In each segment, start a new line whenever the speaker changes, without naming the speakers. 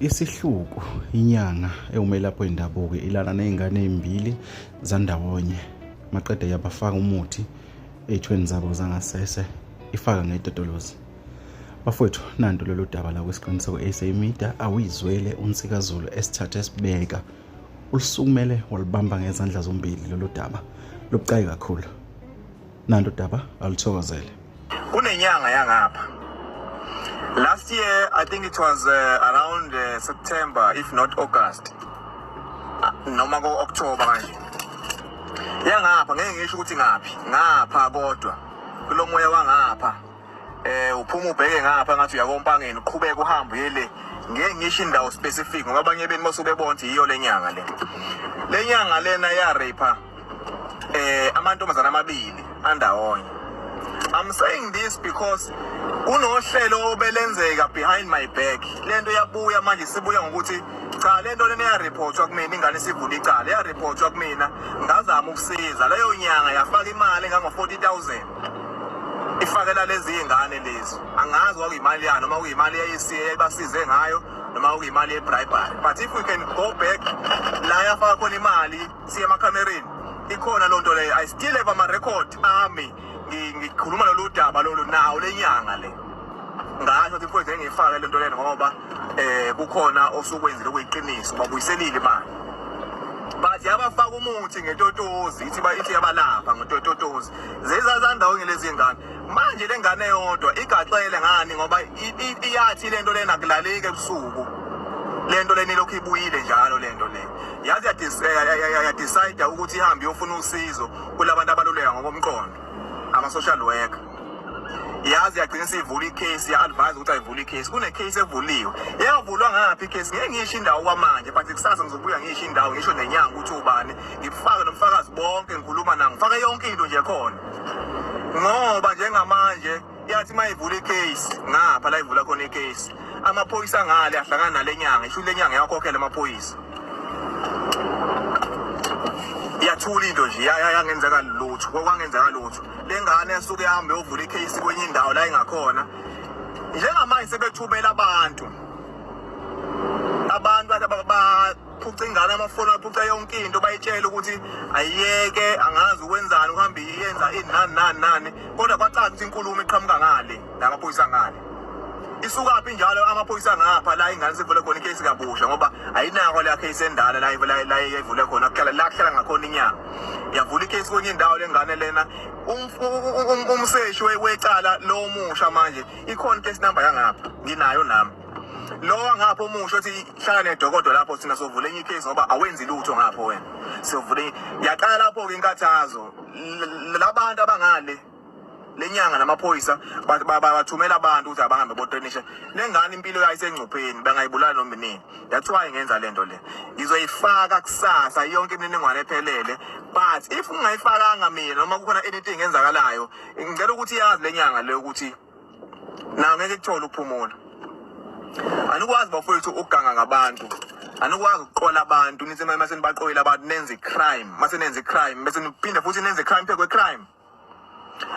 isihluku inyanga ewumelapho wendabuko ilala nezingane ezimbili zandawonye maqede yabafaka umuthi ey'thweni zabo zangasese ifaka ngedodolozi bafowethu nanto lolu daba la kwesiqiniseko e-sa media awuyizwele unsikazulu esithathe esibeka ulusukumele walubamba ngezandla zombili lolu daba lubucayi kakhulu nanto daba aluthokozele kunenyanga
yangapha last year i think it was uh, around uh, september if not august ah, noma ko-october kanje yangapha ngeke ngisho ukuthi ngaphi ngapha kodwa kulo moya wangapha eh uphuma ubheke ngapha ngathi uyakompangeni uqhubeka uhambe yele ngeke ngisho indawo specific ngoba abanye benu basuke bonke yiyo lenyanga le lenyanga lena ya rape eh amantombazana amabili andawonye I'm saying this because kunohlelo obelenzeka behind my back lento yabuya manje sibuya ngokuthi cha lento lena ya reportwa kumina ingane isivula icala ya reportwa kumina ngazama ukusiza leyo nyanga yafaka imali ngango 40000 ifakela lezi ingane lezi angazi kwakuyimali yani noma kuyimali yayisiye ibasize ngayo noma kuyimali yebribery but if we can go back la yafaka khona imali siye emakhamereni ikhona loo nto leyo i still have amarekhodi ami ngikhuluma lolu daba lolu nawo le nyanga le ngasho ukuthi mfowethu engiyifake le nto lena ngoba um kukhona osukwenzile okuyiqiniso babuyiselile imali but yabafaka umuthi ngetotozi ithi ithi yabalapha ngetotozi zezazandawonye lezi ngane manje le ngane yodwa igaxele ngani ngoba iyathi le nto lena kulaleki ebusuku le nto lena ilokhu ibuyile njalo le nto le yaze yadecide ukuthi ihambe iyofuna usizo kulabantu abaluleka ngokomqondo ama-social worker yazi yagcina isivula icase ya-advise ukuthi ayivule icase kunecase evuliwe yayovulwa ngaphi icase ngeke ngiyisho indawo kwamanje but kusasa ngizobuya ngiyisho indawo ngisho nenyanga ukuthi ubani ngifake nomfakazi bonke ngikhuluma nangifake yonke into nje khona ngoba njengamanje yathi uma ivula icase ngapha la ivula khona icase amaphoyisa ngale ahlangana nale nyanga isho le nyanga yakhokhela amaphoyisa yathula into nje yangenzeka lutho kwangenzeka lutho le ngane esuke ihambe yovula icase kwenye indawo la ingakhona njengamanje sebethumela abantu abantu ucingana amafoni aphuca yonke into bayitshele ukuthi ayiyeke angazi ukwenzani uhambe iyenza ini nani nani nani kodwa kwacaca ukuthi inkulumo iqhamuka ngale namaphoyisa ngale isukaphi njalo amaphoyisa ngapha la ingane sivule khona icase kabusha ngoba ayinako leya case endala la la ivule khona kuhlala la kuhlala ngakhona inyanga yavula icase kwenye indawo lengane lena um, um, um, umseshi wecala lomusha manje ikhona case number yangapha nginayo nami lowa ngapho omusho othi hlala nedokodo lapho sina sovula enye icase ngoba awenzi lutho ngapho wena sovule yaqala lapho-ke inkathazo labantu abangale lenyanga namaphoyisa bathumela abantu ukuthi abahambe botrinisha lengane impilo yayo isengcupheni bangayibulala noma nini that's why ngenza le nto le ngizoyifaka kusasa yonke imininingwane ephelele but if ungayifakanga mina noma kukhona anything enzakalayo ngicela ukuthi yazi lenyanga le ukuthi na ngeke kuthole ukuphumula anikwazi bafowethu ukuganga ngabantu anikwazi ukuqola abantu nithi uma senibaqoyile abantu nenze i-crime uma senenze i-crime bese niphinde futhi nenze i-crime phezu kwe-crime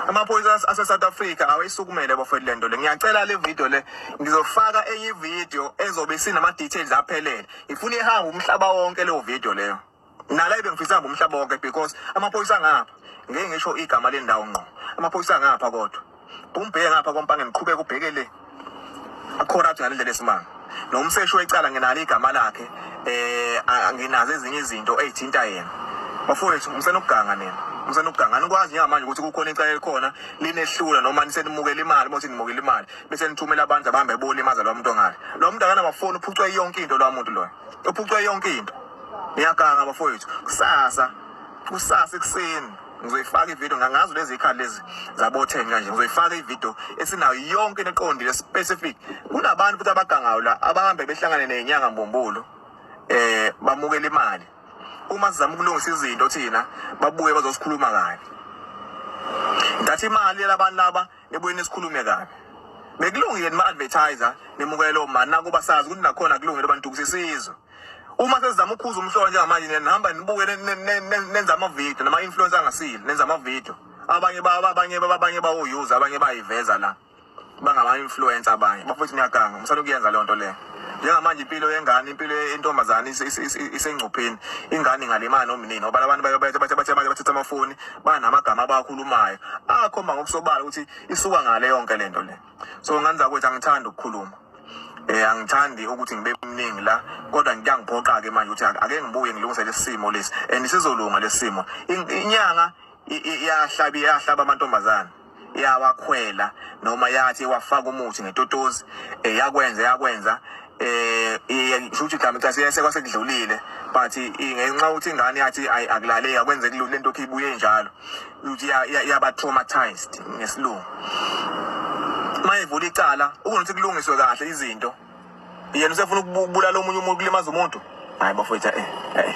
amaphoyisa ase-south africa awayisukumele bafowethu le nto le ngiyacela le video le ngizofaka enye ividiyo ezobe isinama-details aphelele ngifuna ihambe umhlaba wonke leyo vidiyo leyo nala ebengifisa ngomhlaba wonke because amaphoyisa ngapha ngeke ngisho igama lendawo ngqo amaphoyisa ngapha kodwa umbheke ngapha kompange ngiqhubeka ubheke le corrupt ngale ndlela esimanga nomseshi wecala nginalo igama lakhe eh anginazo ezinye izinto ezithinta yena bafowethu umsenokuganga nina umsenokuganga nikwazi njengamanje ukuthi kukhona icala elikhona linehlula noma nisenimukela imali bothi nimukela imali bese nithumela abantu abahamba ebona imaza lo muntu ongale lo muntu akanamafoni uphucwe yonke into lo muntu loyo ephucwe yonke into ngiyaganga bafowethu kusasa kusasa ekuseni ngizoyifaka ivideo ngangazi lezi ikhali lezi zabotheni kanje ngizoyifaka ivideo esinayo yonke into eqondile specific kunabantu futhi abagangayo la abahambe behlangane nenyanga mbumbulu eh bamukela imali uma sizama ukulungisa izinto thina babuye bazosikhuluma kabi ngathi imali labantu laba Ebuye nisikhulume kabi. Bekulungile nima advertiser nimukele lo mani nakuba sazi ukuthi nakhona kulungile abantu ukusisiza. Uma sesizama ukhuza umhlolo njengamanje nihamba nibuke nenza ama video nama influencer angasile nenza ama video. Abanye baba abanye baba abanye bawo user abanye bayiveza la. Bangama influencer abanye. Bafethu niyaganga. Msana ukuyenza le nto le. njengamanje impilo yengane impilo yentombazane isengcupheni ingane ingalimani nomnini ngoba labantu bathi bathi manje bathatha amafoni banamagama abakhulumayo akhomba ngokusobala ukuthi isuka ngale yonke lento le so ngane zakwethu angithanda ukukhuluma eh angithandi ukuthi ngibe mningi la kodwa ngiyangiphoqa ke manje ukuthi ake ngibuye ngilungise lesimo lesi and sizolunga lesimo inyanga iyahlaba iyahlaba amantombazana yawakhwela noma yathi wafaka umuthi ngetotozi eh, yakwenza yakwenza eh ngisho ukuthi igama cha siyese kwasekudlulile but ngenxa ukuthi ingane yathi akulaleki akwenze kulula lento ibuye njalo ukuthi yaba traumatized ngesilungu mayivula icala ukuthi kulungiswe kahle izinto yena usefuna ukubulala omunye umuntu kulimaza umuntu hayi bafowethu eh, eh.